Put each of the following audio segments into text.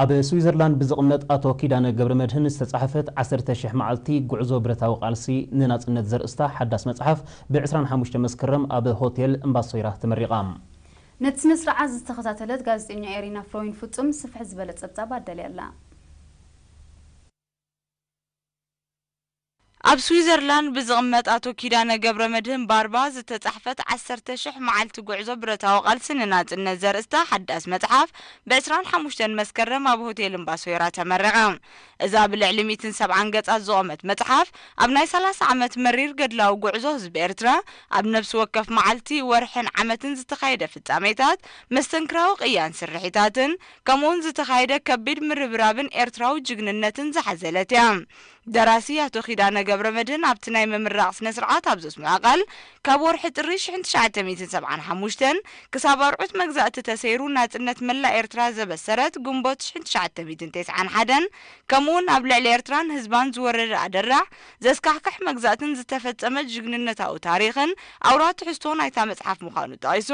ኣብ ስዊዘርላንድ ብዝቕመጥ ኣቶ ኪዳነ ገብረመድህን ዝተጻሕፈት ዓሰርተ ሽሕ መዓልቲ ጉዕዞ ብረታዊ ቃልሲ ንናጽነት ዘርእስታ ሓዳስ መጽሓፍ ብ ዕስራን ሓሙሽተን መስከረም ኣብ ሆቴል እምባሶይራ ተመሪቓ። ነቲ ስነ-ስርዓት ዝተኸታተለት ጋዜጠኛ ኤሪና ፍሮይን ፍጹም ስፍሕ ዝበለ ጸብጻብ ኣዳልያ ኣላ። ኣብ ስዊዘርላንድ ብዝቕመጥ ኣቶ ኪዳነ ገብረመድህን ባርባ ዝተጻሕፈት ዓሰርተ ሽሕ መዓልቲ ጉዕዞ ብረታዊ ቃልሲ ንናጽነት ዘርእስታ ሓዳስ መጽሓፍ ብ ዕስራን ሓሙሽተን መስከረም ኣብ ሆቴል እምባሶይራ ተመረቐ። እዛ ብልዕሊ ሚእትን ሰብዓን ገጻት ዝቖመት መጽሓፍ ኣብ ናይ ሰላሳ ዓመት መሪር ገድላዊ ጉዕዞ ህዝቢ ኤርትራ ኣብ ነብሲ ወከፍ መዓልቲ፣ ወርሕን ዓመትን ዝተኻየደ ፍጻሜታት፣ መስተንክራዊ ቅያን ስርሒታትን፣ ከምኡ'ውን ዝተኻየደ ከቢድ ምርብራብን ኤርትራዊ ጅግንነትን ዝሓዘለት እያ። ደራሲ ኣቶ ኪዳነ ገብረመድህን ኣብቲ ናይ ምምራቕ ስነ-ስርዓት ኣብ ዘስምዖ ቃል፣ ካብ ወርሒ ጥሪ ሽሕን ትሽዓተ ሚእትን ሰብዓን ሓሙሽተን ክሳብ ኣርዑት መግዛእቲ ተሰይሩ ናጽነት መላእ ኤርትራ ዘበሰረት ግንቦት ሽሕን ትሽዓተ ሚእትን ተስዓን ሓደን ከምኡ'ውን ኣብ ልዕሊ ኤርትራን ህዝባን ዝወረደ ኣደራዕ ዘስካሕክሕ መግዛእትን ዝተፈጸመ ጅግንነታዊ ታሪኽን ኣውራ ትሕዝቶ ናይታ መጽሓፍ ምዃኑ ጠቒሱ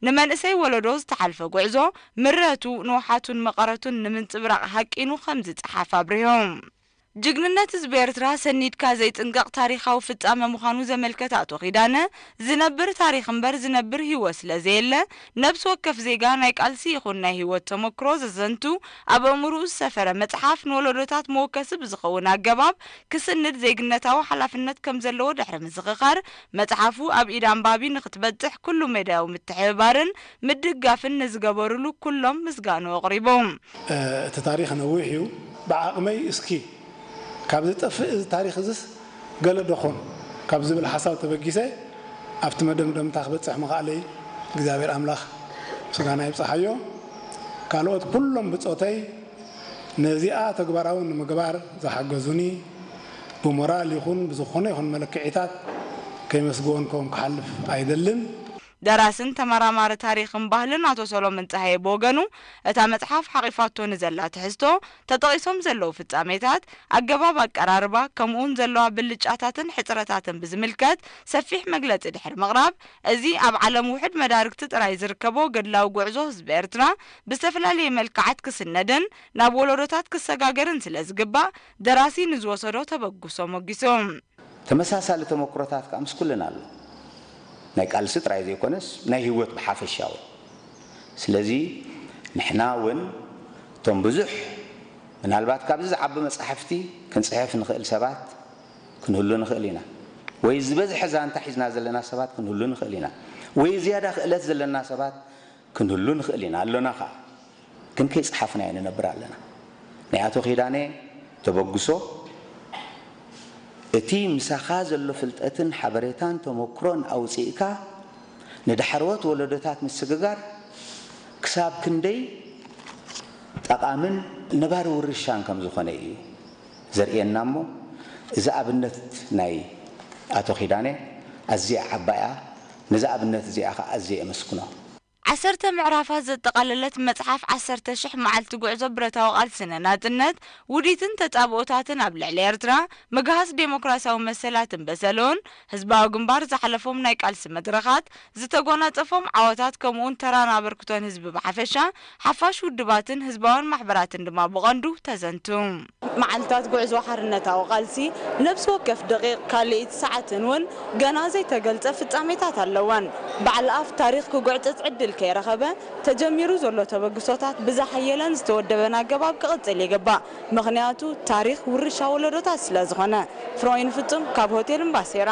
ንመንእሰይ ወለዶ ዝተሓልፈ ጉዕዞ ምረቱ፣ ንውሓቱን መቐረቱን ንምንጽብራቕ ሃቂኑ ከምዝጸሓፍ ኣብሪሁ። ጅግንነት ህዝቢ ኤርትራ ሰኒድካ ዘይጽንቀቕ ታሪኻዊ ፍጻመ ምዃኑ ዘመልከተ ኣቶ ኪዳነ፣ ዝነብር ታሪኽ እምበር ዝነብር ህይወት ስለ ዘየለ፣ ነብሲ ወከፍ ዜጋ ናይ ቃልሲ ይኹን ናይ ህይወት ተመክሮ ዘዘንቱ ኣብ ኣእምሩኡ ዝሰፈረ መጽሓፍ ንወለዶታት መወከሲ ብዝኸውን ኣገባብ ክስንድ ዜግነታዊ ሓላፍነት ከም ዘለዎ ድሕሪ ምዝኽኻር፣ መጽሓፉ ኣብ ኢድ ኣንባቢ ንኽትበጽሕ ኩሉ መዳያዊ ምትሕብባርን ምድጋፍን ንዝገበሩሉ ኩሎም ምስጋንኡ ኣቕሪቡ። እቲ ታሪኽ ነዊሕ እዩ ብዓቕመይ እስኪ ካብ ዝጠፍእ እዚ ታሪኽ እዝስ ገለ ዶ ኾን ካብ ዝብል ሓሳብ ተበጊሰ ኣብቲ መደምደምታ ክበፅሕ ምኽኣለይ እግዚኣብሔር ኣምላኽ ምስጋና ይብፀሓዮ ካልኦት ኩሎም ብፆተይ ነዚኣ ተግባራዊ ንምግባር ዝሓገዙኒ ብሞራል ይኹን ብዝኾነ ይኹን መለክዒታት ከይመስገወንኮም ክሓልፍ ኣይደልን። ደራስን ተመራማሪ ታሪኽን ባህልን ኣቶ ሰሎምን ጸሃየ ብወገኑ፣ እታ መጽሓፍ ሓቚፋቶ ንዘላ ትሕዝቶ፣ ተጠቒሶም ዘለዉ ፍጻሜታት፣ ኣገባብ ኣቀራርባ፣ ከምኡ'ውን ዘለዋ ብልጫታትን ሕጽረታትን ብዝምልከት ሰፊሕ መግለጺ ድሕሪ ምቕራብ፣ እዚ ኣብ ዓለም ውሑድ መዳርግቲ ጥራይ ዝርከቦ ገድላዊ ጉዕዞ ህዝቢ ኤርትራ፣ ብዝተፈላለየ መልክዓት ክስነድን ናብ ወለዶታት ክሰጋገርን ስለ ዝግባእ፣ ደራሲ ንዝወሰዶ ተበግሶ ሞጊሱ። ተመሳሳሊ ተመኩሮታት ከኣ ምስ ኩልና ኣሎ። ናይ ቃልሲ ጥራይ ዘይኮነስ ናይ ህይወት ብሓፈሻውን። ስለዚ ንሕና ውን እቶም ብዙሕ ምናልባት ካብዚ ዝዓቢ መጻሕፍቲ ክንጽሕፍ ንኽእል ሰባት ክንህሉ ንኽእል ኢና። ወይ ዝበዝሐ ዛንታ ሒዝና ዘለና ሰባት ክንህሉ ንኽእል ኢና። ወይ ዝያዳ ክእለት ዘለና ሰባት ክንህሉ ንኽእል ኢና ኣሎና ከኣ ግን ከይጸሓፍናዮ ንነብር ኣለና ናይ ኣቶ ኪዳነ ተበግሶ እቲ ምሳኻ ዘሎ ፍልጠትን ሓበሬታን ተመክሮን ኣውጺእካ ንዳሕረዎት ወለዶታት ምስግጋር ክሳብ ክንደይ ጠቓምን ነባሪ ውርሻን ከም ዝኾነ ኢዩ። ዘርእየና እሞ እዛ ኣብነት ናይ ኣቶ ኪዳነ ኣዝያ ዓባይ እያ ነዛ ኣብነት እዚኣ ከኣ ኣዝየ የመስግኖ። ዓሰርተ ምዕራፋት ዘጠቓለለት መጽሓፍ ዓሰርተ ሽሕ መዓልቲ ጉዕዞ ብረታዊ ቃልሲ ንናጽነት፣ ውዲትን ተጻብኦታትን ኣብ ልዕሊ ኤርትራ፣ ምግሃስ ደሞክራስያዊ መሰላትን በሰሎን፣ ህዝባዊ ግንባር ዝሓለፎም ናይ ቃልሲ መድረኻት፣ ዝተጎናጸፎም ዓወታት ከምኡውን ተራን ኣበርክቶን ህዝቢ ብሓፈሻ፣ ሓፋሽ ውድባትን ህዝባውያን ማሕበራትን ድማ ብቐንዱ ተዘንቱ። መዓልታት ጉዕዞ ሓርነታዊ ቃልሲ፣ ነብሲ ወከፍ ደቒቕ፣ ካልኢት፣ ሰዓትን ውን ገና ዘይተገልጸ ፍጻሜታት ኣለወን። በዓል ኣፍ ታሪኽ ክጉዕጽጽ ዕድል ከይረኸበ፣ ተጀሚሩ ዘሎ ተበግሶታት ብዝሓየለን ዝተወደበን ኣገባብ ክቕጽል ይግባእ። ምኽንያቱ ታሪኽ ውርሻ ወለዶታት ስለ ዝኾነ። ፍሮይን ፍጹም ካብ ሆቴል እምባሴራ።